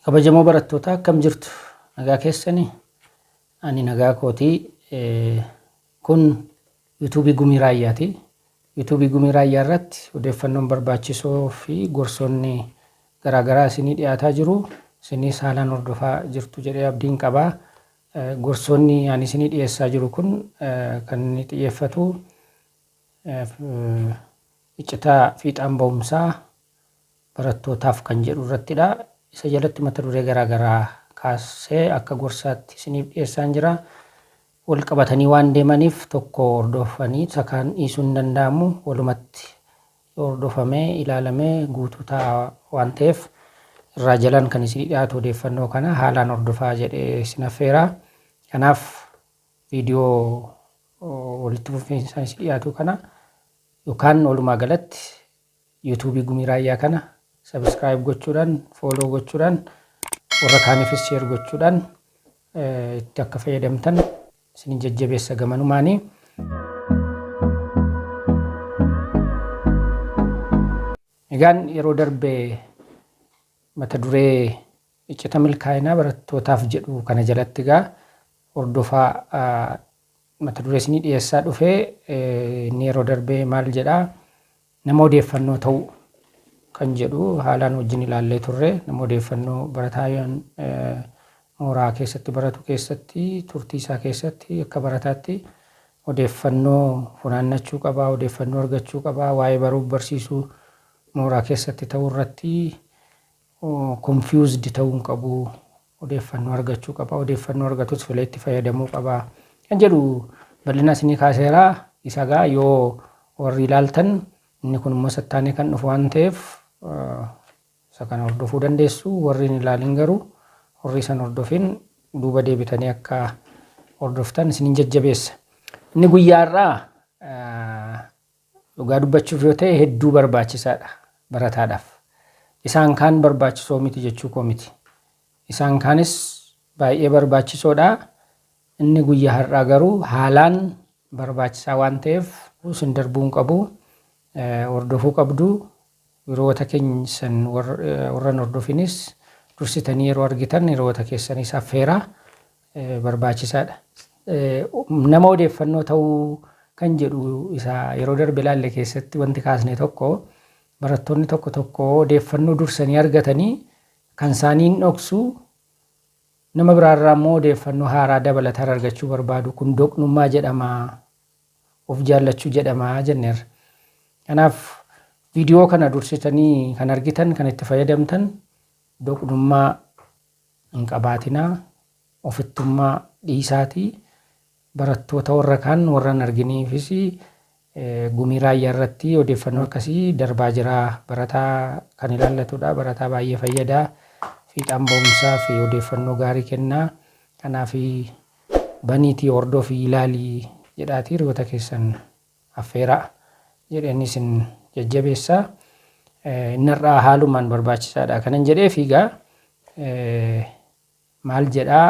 Kabajamoo barattootaa akkam jirtu? Nagaa keessani? Ani nagaa kooti. Kun yuutuubii Gumii Raayyaati. Yuutuubii Gumii Raayyaa irratti odeeffannoon barbaachisoo fi gorsoonni garaagaraa isinii dhiyaataa jiru. Isinis haalaan hordofaa jirtu jedhee abdiin qaba. Gorsoonni ani isinii dhiyeessaa jiru kun kan inni xiyyeeffatu iccitaa fiixaan ba'umsaa barattootaaf kan jedhu irrattidha. Isa jalatti mata duree garaa garaa kaasee akka gorsaatti isiniif dhiyeessaan jira. Wal qabatanii waan deemaniif tokko hordofanii isa kaan dhiisuun hin danda'amu. Walumatti yoo hordofamee ilaalamee guutuu ta'a waan ta'eef irraa jalaan kan isinii dhiyaatu odeeffannoo kana haalaan hordofaa jedhee isin affeera. Kanaaf viidiyoo walitti fufinsaan isin dhiyaatu kana yookaan walumaa galatti YouTube Gumii Raayyaa kana subscribe gochuudhaan, follow gochuudhaan, warra kaanifis share gochuudhaan itti akka fayyadamtan isin jajjabeessa gamanumaanii. Egaan yeroo darbe mata duree iccita milkaa'inaa barattootaaf jedhu kana jalatti egaa hordofaa mata duree isinii dhiyeessaa dhufe inni yeroo darbee maal jedha nama odeeffannoo ta'uu kan jedhu haalaan wajjin ilaallee turre nama odeeffannoo barataa yoon mooraa keessatti baratu keessatti turtii isaa keessatti akka barataatti odeeffannoo funaannachuu qabaa odeeffannoo argachuu qabaa waa'ee baruuf barsiisuu mooraa keessatti ta'uu irratti confused ta'uu hin qabu, odeeffannoo argachuu qaba, odeeffannoo argatus filee itti fayyadamuu qaba kan jedhu bal'ina isinii kaaseera. Isa gaa yoo warri ilaaltan inni kun immoo sattaanee kan dhufu waan ta'eef isa kana hordofuu dandeessu. Warri hin ilaalin garuu warri isan hordofin duuba deebitanii akka hordoftan isinin jajjabeessa. Inni guyyaa har'aa Dhugaa dubbachuuf yoo ta'e hedduu barbaachisaadha barataadhaaf. Isaan kaan barbaachisoo miti jechuu koo miti. Isaan kaanis baay'ee barbaachisoodha. Inni guyyaa har'aa garuu haalaan barbaachisaa waan ta'eef isin darbuu hin qabu. Hordofuu qabdu. Hiriyoota keessan warra hin hordofinis dursitanii yeroo argitan hiriyoota keessaniis affeeraa barbaachisaadha. Nama odeeffannoo ta'uu kan jedhu isa yeroo darbe ilaalle keessatti wanti kaasne tokko barattoonni tokko tokko odeeffannoo dursanii argatanii kan isaanii hin dhoksu nama biraarraa immoo odeeffannoo haaraa dabalataan argachuu barbaadu kun doqnummaa jedhama of jaallachuu jedhama jenneerra. Kanaaf viidiyoo kana dursitanii kan argitan kan itti fayyadamtan doqnummaa hin qabaatinaa, ofittummaa dhiisaatii barattoota warra kaan warra hin arginiifis gumii raayyaa irratti odeeffannoo akkasii darbaa jira. Barataa kan ilaallatudha. Barataa baay'ee fayyada. Fiixaan ba'umsaa fi odeeffannoo gaarii kenna. Kanaaf baniitii hordofii ilaali jedhaatii hiriyoota keessan affeeraa jedheen isin jajjabeessa. Inni har'aa haalumaan barbaachisaadha kanan jedheef egaa maal jedhaa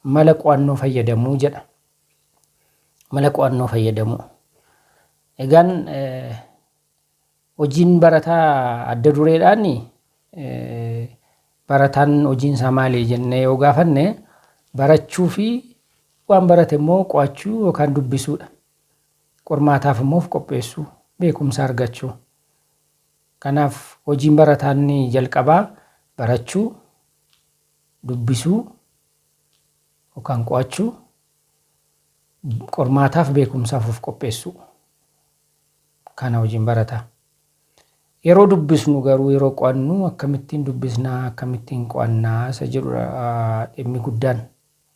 mala qo'annoo fayyadamuu jedha. Mala qo'annoo fayyadamuu. Egaan Hojiin barataa adda dureedhaan barataan hojiin isaa maali jennee yoo gaafanne barachuu fi waan barate immoo qo'achuu yookaan dubbisuudha. Qormaataaf immoo of qopheessuu, beekumsa argachuu. Kanaaf hojiin barataa inni jalqabaa barachuu, dubbisuu yookaan qo'achuu, qormaataaf beekumsaaf of qopheessuu. kana wajjin barata. Yeroo dubbisnu garuu yeroo qo'annu akkamittiin dubbisnaa akkamittiin qo'annaa isa jedhudha dhimmi guddaan.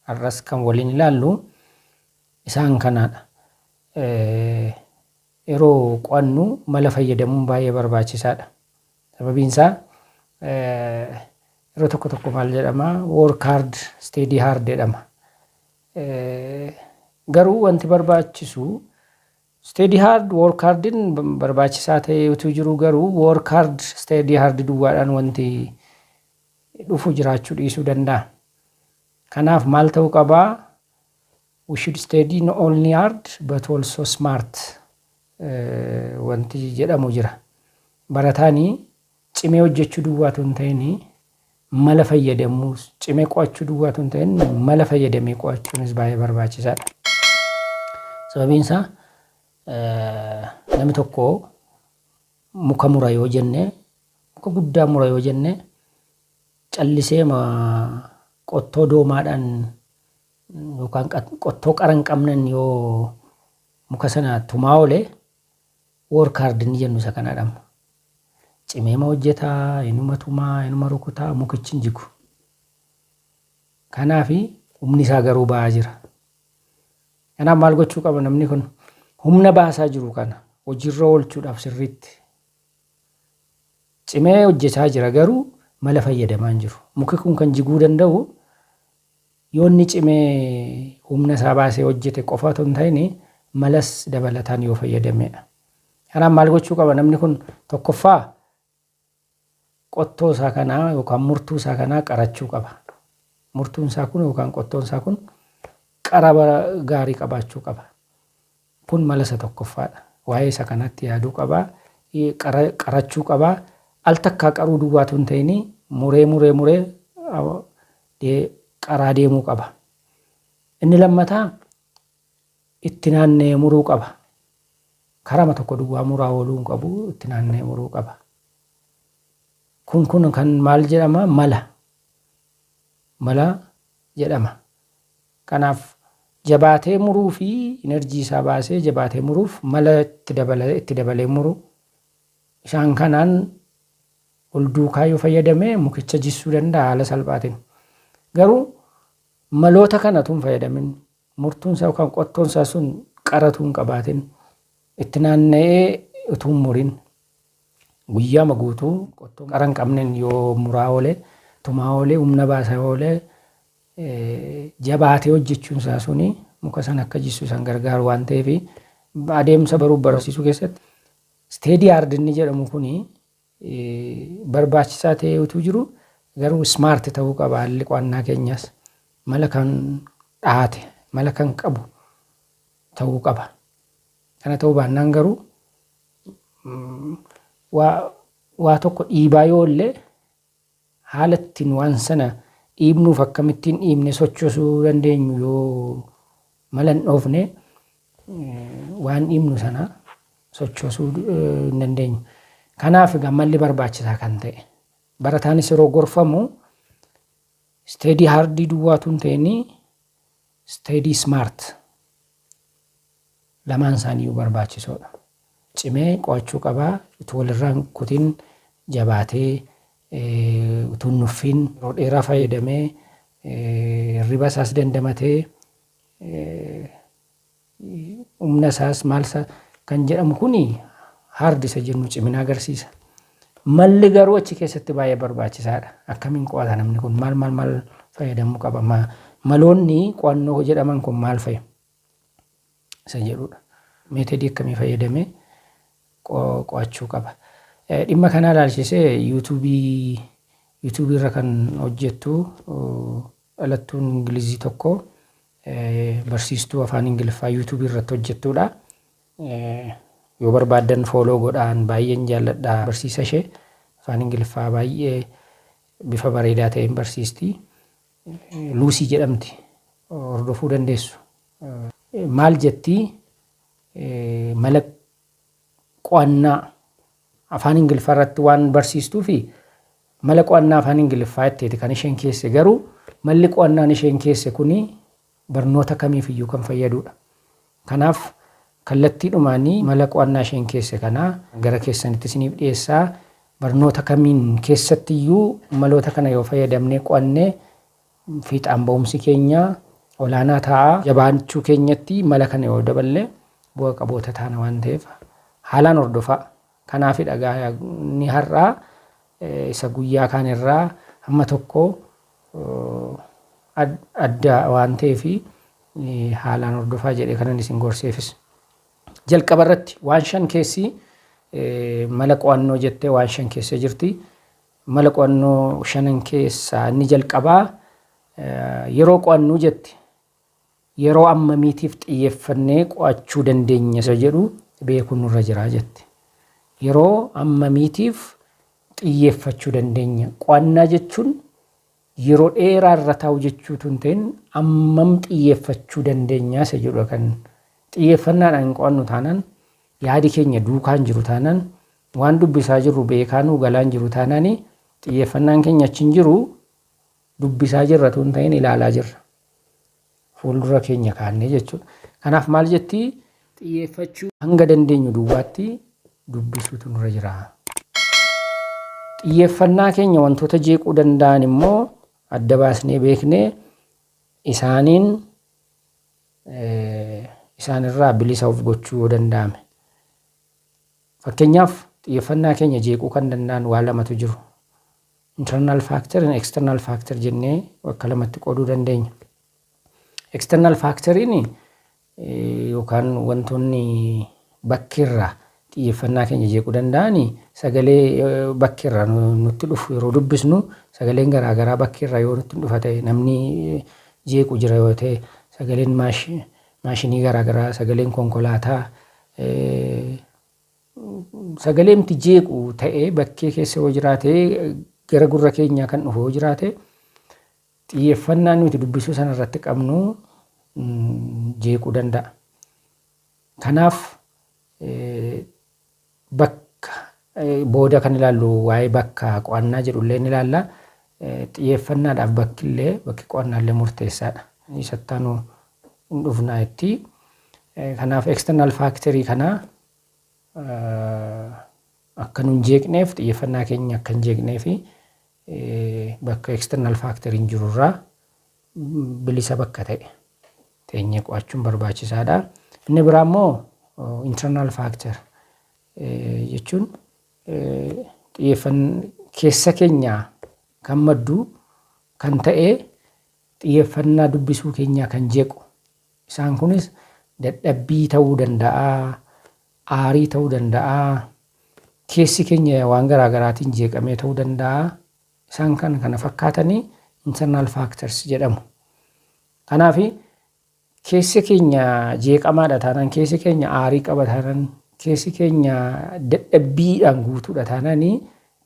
Har'as kan waliin ilaallu isaan kanaadha. Yeroo qo'annu mala fayyadamuun baay'ee barbaachisaadha. Sababiin isaa yeroo tokko tokko maal jedhama work hard steady hard jedhama. Garuu wanti barbaachisu Steady hard, work hard'n barbaachisaa ta'ee utuu jiruu garuu work hard, steady hard duwwaadhaan wanti dhufu jiraachuu dhiisuu danda'a. Kanaaf maal ta'uu qaba? We should steady not only hard but also smart wanti jedhamu jira. Barataani cimee hojjechuu duwwaa utuu hin ta'ini mala fayyadamuus cimee qo'achuu duwwaa tun ta'in mala fayyadamee qo'achuunis baay'ee barbaachisaadha. Sababiin isaa namni tokko muka mura yoo jenne muka guddaa mura yoo jenne callisee ma qottoo doomaadhaan yookaan qat- qottoo qara hin qabnen yoo muka sana tumaa oole Work hard inni jennu isa kanadha amma. Cimeema hojjeta, inuma tuma, inuma rukuta, mukichi hin jigu. Kanaaf humni isaa garuu ba'aa jira. Kanaaf maal gochuu qaba namni kun? Humna baasaa jiru kana hojiirra oolchuudhaaf sirriitti cimee hojjechaa jira garuu mala fayyadamaa hin jiru. Muki kun kan jiguu danda'u Yoo inni cimee humna isaa baasee hojjete qofa otoo hin ta'in malas dabalataan yoo fayyadameedha. Kanaaf maal gochuu qaba namni kun tokkoffaa qottoo isaa kanaa yookaan murtuu isaa kanaa qarachuu qaba. Murtuun isaa kun yookaan qottoon isaa kun qara gaarii qabaachuu qaba. Kun mala isa tokkoffaa dha. Waa'ee isa kanaatti yaaduu qaba. Qara, qarachuu qaba. Al takkaa qaruu duwwaa utuu hin ta'in muree muree muree dee, qaraa deemuu qaba. Inni lammataa itti naanna'ee muruu qaba. Karama tokko duwwaa muraa ooluu hin qabu, itti naanna'ee muruu qaba. Kun kun kan maal jedhama? Mala. Mala jedhama. Kanaaf jabaatee muruu fi energy isaa baasee jabaatee muruuf mala itti dabala itti dabalee muru. Isaan kanaan wal duukaa yoo fayyadame mukicha jissuu danda'a haala salphaatiin. Garuu maloota kana utuu hin fayyadamin murtuun isaa yookaan qottoon isaa sun qara utuu hin qabaatin itti naanna'ee utuu hin murin guyyaama guutuu qottoo qara hin qabneen yoo muraa oole tumaa oole humna baasaa oole jabaatee hojjechuun isaa suni muka sana akka jissu isan gargaaru waan ta'eef adeemsa baruuf barsiisuu keessatti isteedii aard inni jedhamu kuni barbaachisaa ta'ee utuu jiru garuu smaart ta'uu qaba haalli qo'annaa keenyaas mala kan dhaate mala kan qabu ta'uu qaba. Kana ta'uu baannaan garuu waa tokko dhiibaa yoo illee Haala ittiin waan sana dhiibnuuf akkamittiin dhiibnee sochoosuu dandeenyu yoo mala hin dhoofne waan dhiibnu sana sochoosuu hin dandeenyu. Kanaaf egaa malli barbaachisaa kan ta'e. Barataanis yeroo gorfamu isteedii haardii duwwaa utuu hin ta'inii Steady Smart lamaan isaaniiyyuu barbaachisoodha. Cimee qo'achuu qaba. Utuu walirraa hin kutin jabaatee utuu hin nuffiin yeroo dheeraa fayyadamee hirriba isaas dandamatee humna isaas maal isaa kan jedhamu kun hard isa jennu cimina agarsiisa. Malli garuu achi keessatti baay'ee barbaachisaadha. Akkamiin qo'ata namni kun maal maal maal fayyadamuu qaba? Ma- Maloonni qo'annoo jedhaman kun maal fa'i? Isa jedhudha. Meetodii akkamii fayyadamee qo- qo'achuu qaba? Eh, Dhimma kanaa ilaalchisee yuutuubii yuutuubii irra kan hojjettu oh, dhalattuun Ingilizii tokko Barsiistuu Afaan Ingiliffaa YouTube irratti hojjettuudha. Yoo barbaaddan fooloo godhaan baay'een jaalladha barsiisa ishee. Afaan Ingiliffaa baay'ee bifa bareedaa ta'een barsiisti. Luusii jedhamti. Hordofuu dandeessu. Maal jettii mala qo'annaa Afaan Ingiliffaa irratti waan barsiistuufi mala qo'annaa afaan Ingiliffaa itteeti kan isheen keesse garuu malli qo'annaan isheen keesse kuni barnoota kamiif iyyuu kan fayyaduudha. Kanaaf kallattiidhumaani mala qo'annaa isheen keesse kana gara keessanitti isiniif dhiyeessa. Barnoota kamiin keessatti iyyuu maloota kana yoo fayyadamnee qo'anne fiixaan ba'umsi keenya olaanaa ta'a. Jabaachuu keenyatti mala kana yoo daballe bu'a qaboota taana waan ta'eef haalaan hordofaa. Kanaafidha egaa inni har'aa isa guyyaa kaanirraa hamma tokko adda waan ta'eef haalaan hordofaa jedhee kanan isin gorseefis. Jalqaba irratti waan shan keessi mala qo'annoo jettee waan shan keessa jirti. Mala qo'annoo shanan keessaa inni jalqabaa yeroo qo'annu jette yeroo ammamiitiif xiyyeeffannee qo'achuu dandeenya isa jedhu beekuun nurra jira jette. Yeroo ammamiitiif xiyyeeffachuu dandeenya? Qo'annaa jechuun Yeroo dheeraa irra taa'uu jechuu utuu hin ta'in ammam xiyyeeffachuu dandeenya isa jedhudha kan xiyyeeffannaadhaan hin qo'annu taanaan yaadi keenya duukaa hin jiru taanaan waan dubbisaa jirru beekaa nuu galaa hin jiru taanaan xiyyeeffannaan keenya achi hin jiru dubbisaa jirra utuu hin ta'in ilaalaa jirra. fuuldura keenya kaannee jechuudha. Kanaaf maal jetti? Xiyyeeffachuu hanga dandeenyu duwwaatti dubbisuutu nurra jira. Xiyyeeffannaa keenya wantoota jeequu danda'an immoo adda baasnee beeknee isaaniin isaanirraa bilisa of gochuu yoo danda'ame. Fakkeenyaaf xiyyeeffannaa keenya jeequu kan danda'an waa lamatu jiru. Internal factor and external factor jennee bakka lamatti qooduu dandeenya. External factor'n yookaan wantoonni bakkeerraa xiyyeeffannaa keenya jeequu danda'an sagalee bakkeerraa nutti dhufu yeroo dubbisnu sagaleen garaagaraa bakkeerraa yoo nutti dhufa ta'e namni jeequ jira yoo ta'e sagaleen maashinii garaagaraa sagaleen konkolaataa sagaleemti jeequ ta'ee bakkee keessa yoo jiraate gara gurra keenyaa kan dhufu yoo jiraate xiyyeeffannaa nuti dubbisuu sana irratti qabnu jeequu danda'a. Kanaaf bakka booda kan ilaallu waa'ee bakka qo'annaa jedhullee ni ilaalla. Xiyyeeffannaadhaaf bakkillee bakki qo'annaallee murteessaadha. Isattaanu hin dhufnaa itti. Kanaaf external factory kana akka nun jeeqneef xiyyeeffannaa keenya akka hin jeeqnee fi bakka external factory hin jiru irraa bilisa bakka ta'e teenyee qo'achuun barbaachisaadha. Inni biraa immoo internal factor jechuun xiyyeeffannaa keessa keenyaa kan maddu kan ta'e xiyyeeffannaa dubbisuu keenyaa kan jeequ Isaan kunis dadhabbii ta'uu danda'a, aarii ta'uu danda'a, keessi keenya waan garaa garaatiin jeeqamee ta'uu danda'a. Isaan kan kana fakkaatan internal factors jedhamu. Kanaaf keessi keenya jeeqamaadha taanaan, keessi keenya aarii qaba taanaan, keessi keenya dadhabbiidhaan guutuudha taanaan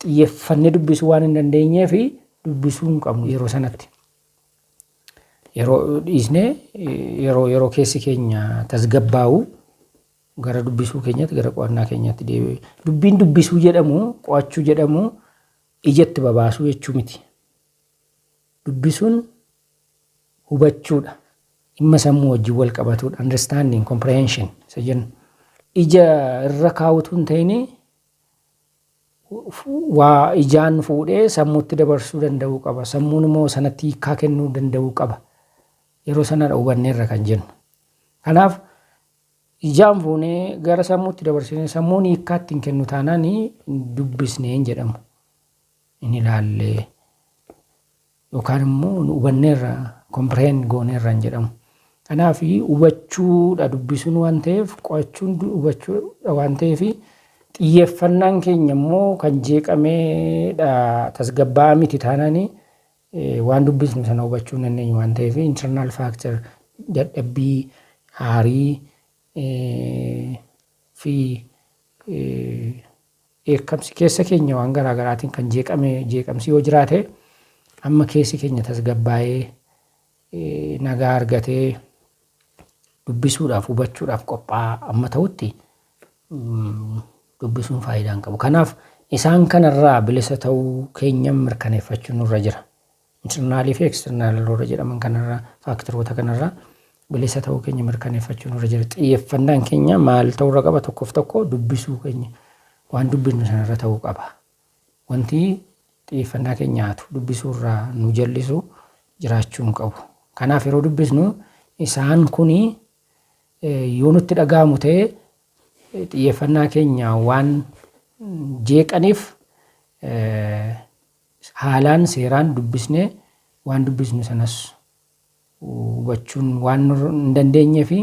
xiyyeeffannee dubbisuu waan hin dandeenyeef dubbisuu hin qabnu yeroo sanatti. Yeroo dhiisnee yeroo yeroo keessi keenya tasgabbaa'u gara dubbisuu keenyatti gara qo'annaa keenyatti deebi'u. Dubbiin dubbisuu jedhamu qo'achuu jedhamu ijatti babaasuu jechuu miti. Dubbisuun hubachuudha. Dhimma sammuu wajjin wal qabatuudha. Understanding, comprehension isa jennu. Ija irra kaa'utu hin ta'inii waa ijaan fuudhee sammuutti dabarsuu danda'uu qaba. Sammuun immoo sanatti hiikkaa kennuu danda'uu qaba. Yeroo sanadha hubanneerra kan jennu. Kanaaf ijaan fuunee gara sammuutti dabarsinee sammuun hiikkaa ittiin kennu taanaan dubbisnee hin jedhamu. Hin ilaallee. yookaan immoo nu hubanneerra, comprehend gooneerra hin jedhamu. Kanaaf hubachuudha dubbisuun waan ta'eef qo'achuun hubachuudha waan ta'eef xiyyeeffannaan keenya immoo kan jeeqameedha tasgabbaa'aa miti taanaan waan dubbisnu sana hubachuu hin dandeenyu waan ta'eef internal factor dadhabbii aarii fi Dheekkamsi keessa keenya waan garaa garaatiin kan jeeqame jeeqamsi yoo jiraate amma keessi keenya tasgabbaa'ee nagaa argatee dubbisuudhaaf hubachuudhaaf qophaa'aa amma ta'utti dubbisuun faayidaa hin qabu. Kanaaf isaan kanarraa bilisa ta'uu keenya mirkaneeffachuun nurra jira. Internal fi external warra jedhaman kanarraa faaktaroota kanarraa bilisa ta'uu keenya mirkaneeffachuu nurra jira. Xiyyeeffannaan keenya maal ta'uu irra qaba tokkoof tokko dubbisuu keenya waan dubbisnu sanarra ta'uu qaba. Wanti xiyyeeffannaa keenya nyaatu dubbisuu irraa nu jallisu jiraachuu hin qabu. Kanaaf yeroo dubbisnu isaan kuni yoo nutti dhaga'amu ta'e xiyyeeffannaa keenya waan jeeqaniif haalaan seeraan dubbisnee waan dubbisnu sanas hubachuun waan nu hin dandeenyee fi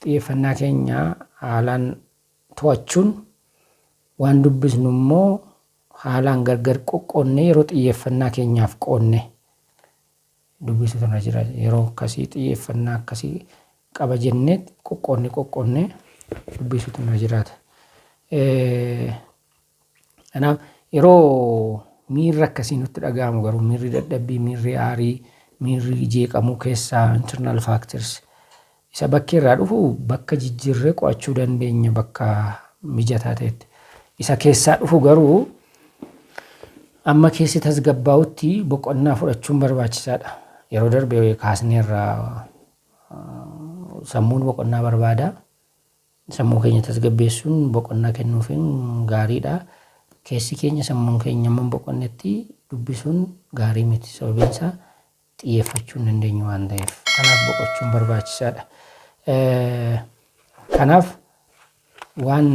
xiyyeeffannaa keenya haalaan to'achuun waan dubbisnu immoo haalaan gargar qoqqoonnee yeroo xiyyeeffannaa keenyaaf qoonne dubbisuu irra jira yeroo akkasii xiyyeeffannaa akkasii qaba jennee qoqqoonnee qoqqoonnee dubbisuutu irra jiraata. Kanaaf yeroo miirri akkasii nutti dhaga'amu garuu miirri dadhabbii, miirri aarii, miirri jeeqamuu keessaa internal factors isa bakkee irraa dhufu bakka jijjiirree qo'achuu dandeenya bakka mijataa ta'etti. Isa keessaa dhufu garuu amma keessi tasgabbaa'utti boqonnaa fudhachuun barbaachisaadha. Yeroo darbe kaasneerra sammuun boqonnaa barbaada. Sammuu keenya tasgabbeessuun, boqonnaa kennuufiin gaariidha. Keessi keenya, sammuun keenya hammam boqonnetti dubbisuun gaarii miti. Sababiin isaa xiyyeeffachuu hin dandeenyu waan ta'eef. Kanaaf boqochuun barbaachisaadha. Kanaaf waan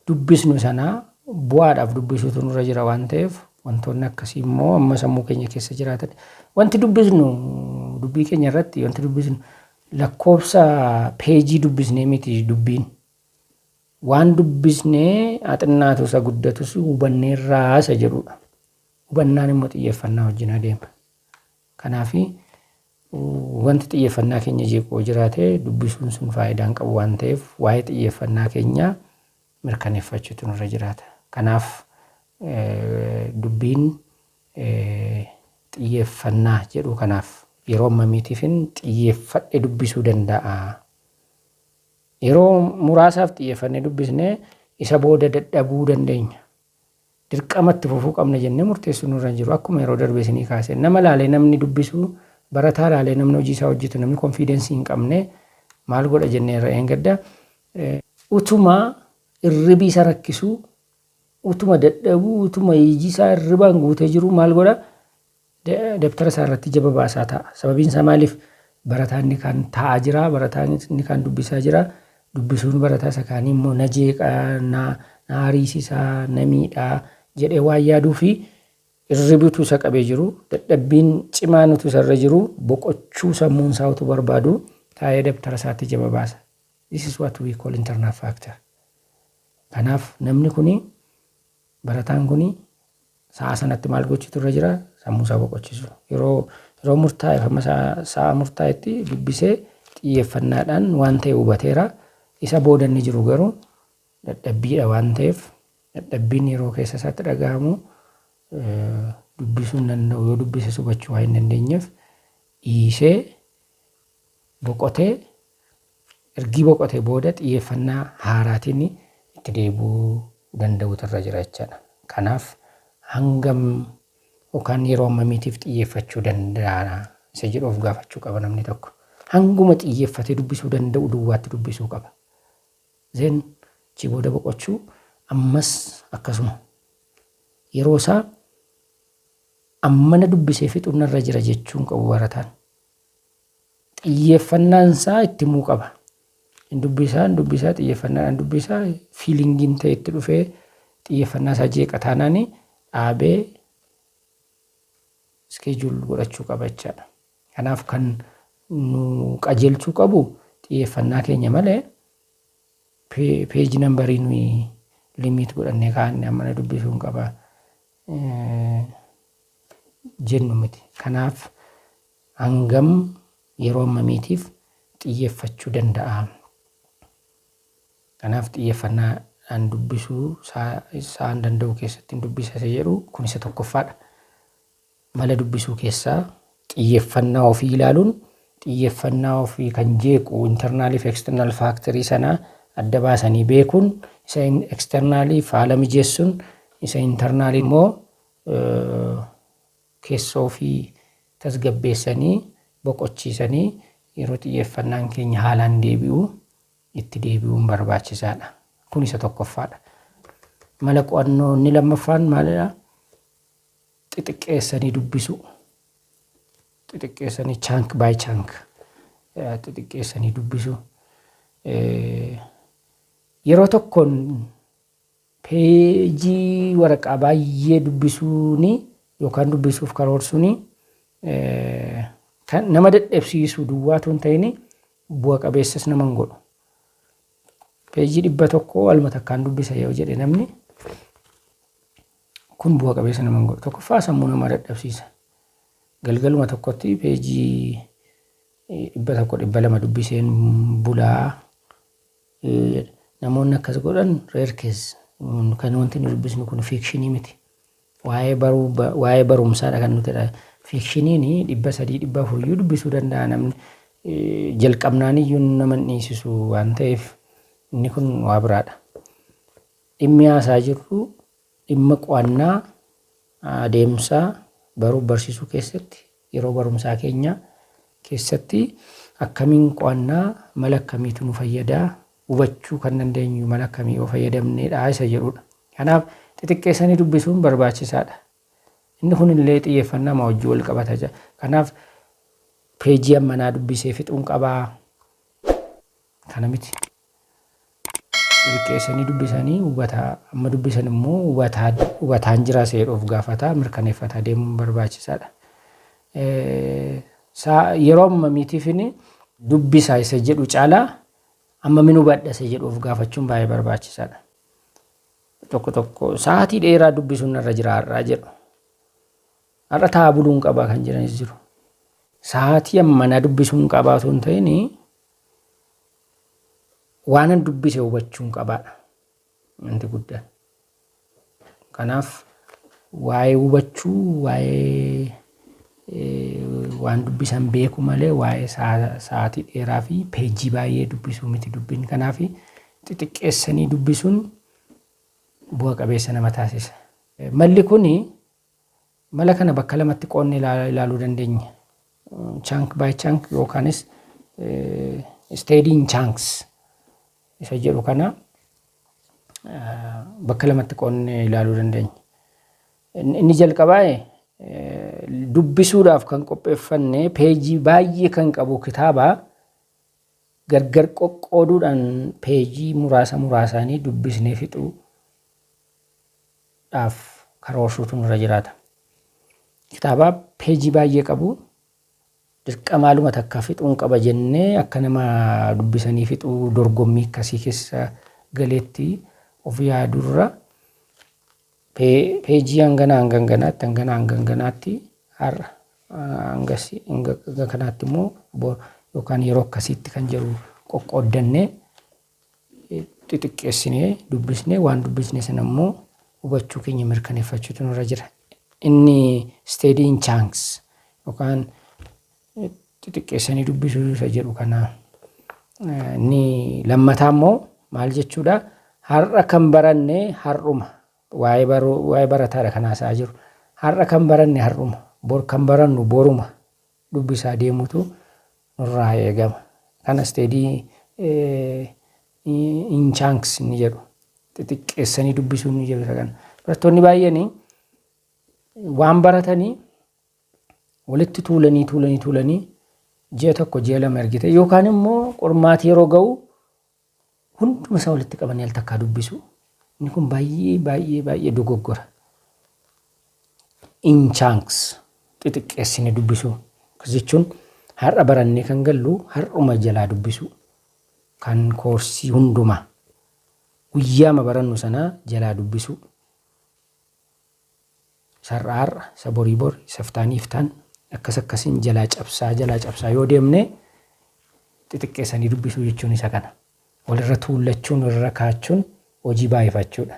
dubbisnu sana bu'aadhaaf dubbisuutu nurra jira waan ta'eef wantoonni akkasii immoo amma sammuu keenya keessa jiraatan wanti dubbisnu dubbii keenya irratti wanti dubbisnu lakkoofsa peejii dubbisnee miti dubbiin waan dubbisnee axinnaatu isa guddatus hubannee irraa isa jedhudha. Hubannaan immoo xiyyeeffannaa wajjin adeema. Kanaaf Wanti xiyyeeffannaa keenya jeequ yoo jiraate dubbisuun sun faayidaa hin qabu waan ta'eef waa'ee xiyyeeffannaa keenyaa mirkaneeffachuutu nurra jiraata. Kanaaf dubbiin xiyyeeffannaa jedhu kanaaf yeroo ammamiitiifin xiyyeeffadhe dubbisuu danda'a? Yeroo muraasaaf xiyyeeffannee dubbisnee isa booda dadhabuu dandeenya. dirqama itti fufuu qabna jennee murteessuun nurra hin jiru. Akkuma yeroo darbe isinii kaase nama laalee namni dubbisu, barataa laalee namni hojii isaa hojjetu namni konfiidensii hin qabne maal godha jennee irra eengadda. Utuma irribi isa rakkisuu, utuma dadhabuu, utuma iji isaa irribaan guutee jiruu maal godha? Dabtara isaa irratti jaba baasaa taa'a. Sababiin isaa maaliif? Barataa inni kaan taa'aa jira, barataa inni kaan dubbisaa jira. Dubbisuun barataa isa kaanii immoo na jeeqa, na na ariisisa, na miidha jedhee waan yaaduu fi irribi utuu isa qabee jiru, dadhabbiin cimaan utuu isa irra jiru, boqochuu sammuun isaa utuu barbaadu taa'ee dabtara isaatti jaba baasa. This is what we call internal factor. Kanaaf namni kuni Barataan kun sa'a sanatti maal gochuutu irra jira? Sammuu isaa boqochiisu. Yeroo yeroo murtaa'eef amma sa'a sa'a murtaa'etti dubbisee xiyyeeffannaadhaan waan ta'e hubateera. Isa booda inni jiru garuu dadhabbiidha waan ta'eef dadhabbiin yeroo keessa isaatti dhaga'amu dubbisuu hin danda'u. Yoo dubbises hubachuu waan hin dandeenyeef dhiisee boqotee ergii boqotee booda xiyyeeffannaa haaraatiin itti deebi'uu danda'uutu irra jira jechaadha. Kanaaf hangam yookaan yeroo ammamiitiif xiyyeeffachuu danda'a isa jedhu of gaafachuu qaba namni tokko. Hanguma xiyyeeffatee dubbisuu danda'u duwwaatti dubbisuu qaba. Zeen achii booda boqochuu ammas akkasuma yeroo isaa ammana dubbisee fixuun irra jira jechuun qabu barataan. xiyyeeffannaan isaa itti himuu qaba. Hin dubbisaa, hin dubbisaa, xiyyeeffannaadhaan dubbisaa, fiilingiin ta'e itti dhufee xiyyeeffannaa isaa jeeqa taanaan dhaabee iskeejuul godhachuu qaba jechaadha. Kanaaf kan nu qajeelchuu qabu xiyyeeffannaa keenya malee peeji nambarii nuyi limiit godhannee kaa'anne amma na dubbisuun qaba. jennu miti. Kanaaf hangam yeroo hammamiitiif xiyyeeffachuu danda'a? Kanaaf xiyyeeffannaadhaan dubbisuu isaan danda'u keessatti hin dubbisa isa jedhu kun isa tokkoffaadha. Mala dubbisuu keessaa xiyyeffannaa ofii ilaaluun xiyyeffannaa ofii kan jeequ internal fi external factory sana adda baasanii beekuun isa external faala mijeessun isa internal immoo keessa ofii tasgabbeessanii boqochiisanii yeroo xiyyeffannaan keenya haalaan deebi'u itti deebi'uun barbaachisaadha. Kun isa tokkoffaadha. Mala qo'annoo inni lammaffaan maalidha? xixiqqeessanii dubbisuu xixiqqeessanii chunk by chunk eh, xixiqqeessanii dubbisuu Eh, yeroo tokkoon peejii waraqaa baay'ee dubbisuun yookaan dubbisuuf karoorsuun eh, kan nama dadhabsiisu duwwaatu hin ta'in bu'a qabeessas nama hin godhu. Peejii dhibba tokko waluma takkaan dubbisa yoo jedhe namni Kun bu'a qabeessa nama hin godhu. Tokkoffaa sammuu namaa dadhabsiisa. Galgaluma tokkotti peejii dhibba tokko dhibba lama dubbiseen bulaa namoonni akkas godhan reerkees kan wanti nu dubbisnu kun fiikshinii miti. Waa'ee baruu waa'ee barumsaadha kan nuti fiikshiniin dhibba sadii dhibba afuriyyuu dubbisuu danda'a namni jalqabnaan iyyuu nama hin dhiisisu waan ta'eef inni kun waa biraadha. Dhimmi haasaa jirru dhimma qo'annaa adeemsa baruuf barsiisuu keessatti yeroo barumsaa keenya keessatti akkamiin qo'annaa mala akkamiitu nu fayyada hubachuu kan dandeenyu mala akkamii yoo fayyadamneedha isa jedhudha. Kanaaf xixiqqeessanii dubbisuun barbaachisaadha. Inni kun illee xiyyeeffannaa maa wajjin wal qabata jira. Kanaaf peejii ammanaa dubbisee fixuun qabaa. Kana miti. Xiqqeessanii dubbisanii hubataa amma dubbisan immoo hubataa hubataan jiraa seedhu of gaafataa mirkaneeffataa deemuun barbaachisaadha. Saa yeroo amma miitiifini dubbisaa isa jedhu caalaa amma min hubadha isa jedhu of gaafachuun baay'ee barbaachisaadha. Tokko tokko sa'aatii dheeraa dubbisuun narra jira har'aa jedhu. Har'a taa'aa buluun qabaa kan jiranis jiru. Sa'aatii ammanaa dubbisuun qabaa osoo hin ta'in waanan dubbise hubachuun qabaadha. Wanti guddaan. Kanaaf waa'ee hubachuu waa'ee waan dubbisan beeku malee waa'ee sa'aatii dheeraa fi peejii baay'ee dubbisuu miti dubbiin kanaaf xixiqqeessanii dubbisuun bu'a qabeessa nama taasisa. Malli kun Mala kana bakka lamatti qoodne ilaaluu dandeenya. Chunk by chunk yookaanis steady in chunks isa jedhu kana bakka lamatti qoodne ilaaluu dandeenya. Inni jalqabaa dubbisuudhaaf kan qopheeffanne peejii baay'ee kan qabu kitaaba gargar qoqqooduudhaan peejii muraasa muraasaanii dubbisnee fixuu dhaaf karoorsuutu nurra jiraata. Kitaaba peejii baay'ee qabu dirqamaaluma takka fixuun qaba jennee akka nama dubbisanii fixuu dorgommii akkasii keessa galeetti of yaadurra pee- peejii hangana hangan ganaatti hangana hangan ganaatti har'a hangasi hanga hanga kanaatti immoo bo- yookaan yeroo akkasiitti kan jedhu qoqqooddannee xixiqqeessinee dubbisnee waan dubbisne sana immoo hubachuu keenya mirkaneeffachuutu nurra jira. Inni steady in chunks yookaan xixiqqeessanii dubbisuu isa jedhu kana. Inni lammataa immoo maal jechuudha? Har'a kan baranne har'uma. Waa'ee baruu waa'ee barataadha kan haasa'aa jiru. Har'a kan baranne har'uma. Bor kan barannu boruma. dubbisaa deemuutu nurraa eegama. Kana steady in chunks inni jedhu xixiqqeessanii dubbisuu inni jedhu isa kana. Barattoonni baay'een waan baratanii walitti tuulanii tuulanii tuulanii ji'a tokko ji'a lama ergite yookaan immoo qormaati yeroo ga'u hunduma isaa walitti qabanii al takkaa dubbisu inni kun baay'ee baay'ee baay'ee dogoggora in chunks xixiqqeessine dubbisu akkas jechuun har'a barannee kan gallu har'uma jalaa dubbisu kan koorsii hundumaa guyyaama barannu sanaa jalaa dubbisu Isa har'a har'a, isa borii bori, isa iftaan iftaan akkas akkasiin jalaa cabsaa jalaa cabsaa yoo deemne xixiqqeessanii dubbisuu jechuun isa kana. Walirra tuullachuun walirra kaachuun hojii baay'ifachuudha.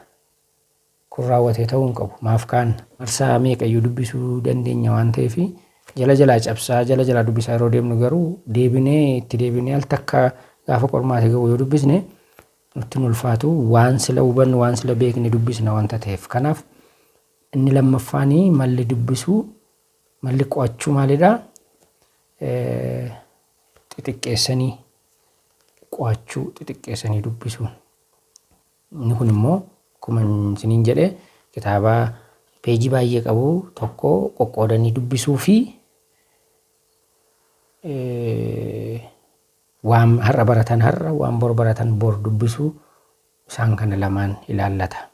Kun raawwatee ta'uu hin qabu. Maaf kaanna? Marsaa meeqayyuu dubbisuu dandeenya waan ta'eef jala jalaa cabsaa jala jalaa dubbisaa yeroo deemnu garuu deebinee itti deebinee al takka gaafa qormaata ga'u yoo dubbisne nutti hin ulfaatu. Waan sila hubannu, waan sila beekne dubbisna wanta ta'eef. Kanaaf inni lammaffaan malli dubbisuu, malli qo'achuu maalidha? Xixiqqeessanii qo'achuu, xixiqqeessanii dubbisuu. Inni kun immoo akkuma isiniin jedhe kitaaba peejii baay'ee qabu tokko qoqqoodanii dubbisuu fi Waan har'a baratan har'a, waan bor baratan bor dubbisuu isaan kana lamaan ilaallata.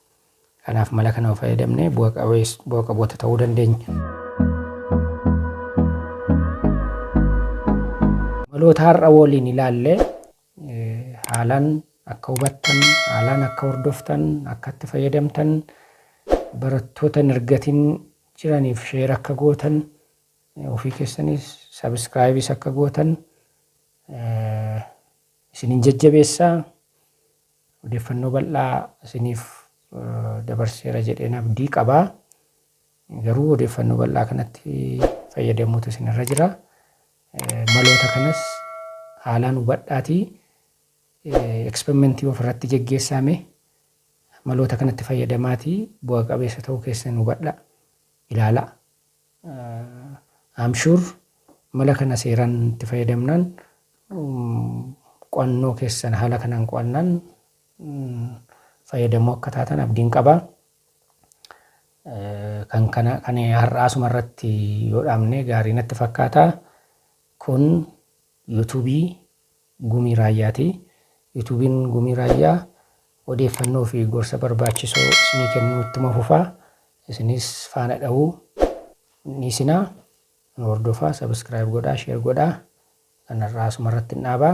Kanaaf mala kana yoo fayyadamne bu'a qabees- bu'a qaboota ta'uu dandeenya. Maloota har'a waliin ilaalle eh, haalaan akka hubattan, haalaan akka hordoftan, akka itti fayyadamtan, barattoota hin argatin jiraniif sheer akka gootan Ofii keessanis subscribes akka gootan isinin jajjabeessa. Odeeffannoo bal'aa isiniif dabarseera jedheen abdii qaba. Garuu odeeffannoo bal'aa kanatti fayyadamuutu isinirra jira. Maloota kanas haalaan hubadhaatii eksperimentii ofirratti geggeessaame maloota kanatti fayyadamaatii bu'a qabeessa ta'uu keessan hubadha ilaala. I'm sure mala kana seeraan itti fayyadamnaan qo'annoo keessan haala kanaan qo'annaan fayyadamoo akka taatan abdiin qaba. Kan kana kan har'aa asuma irratti yoo dhaabne gaarii natti fakkaata. Kun yuutuubii Gumii Raayyaa ti. Yuutuubiin Gumii Raayyaa odeeffannoo fi gorsa barbaachisoo isinii kennuu ittuma fufa. Isinis faana dha'uu hin dhiisinaa. Nu hordofaa, subscribe godhaa, share godhaa. Kan har'aa asuma irrattin dhaaba.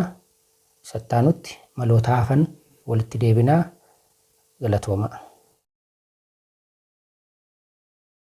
Isa itti aanutti maloota hafan walitti deebina. Galatoomaa.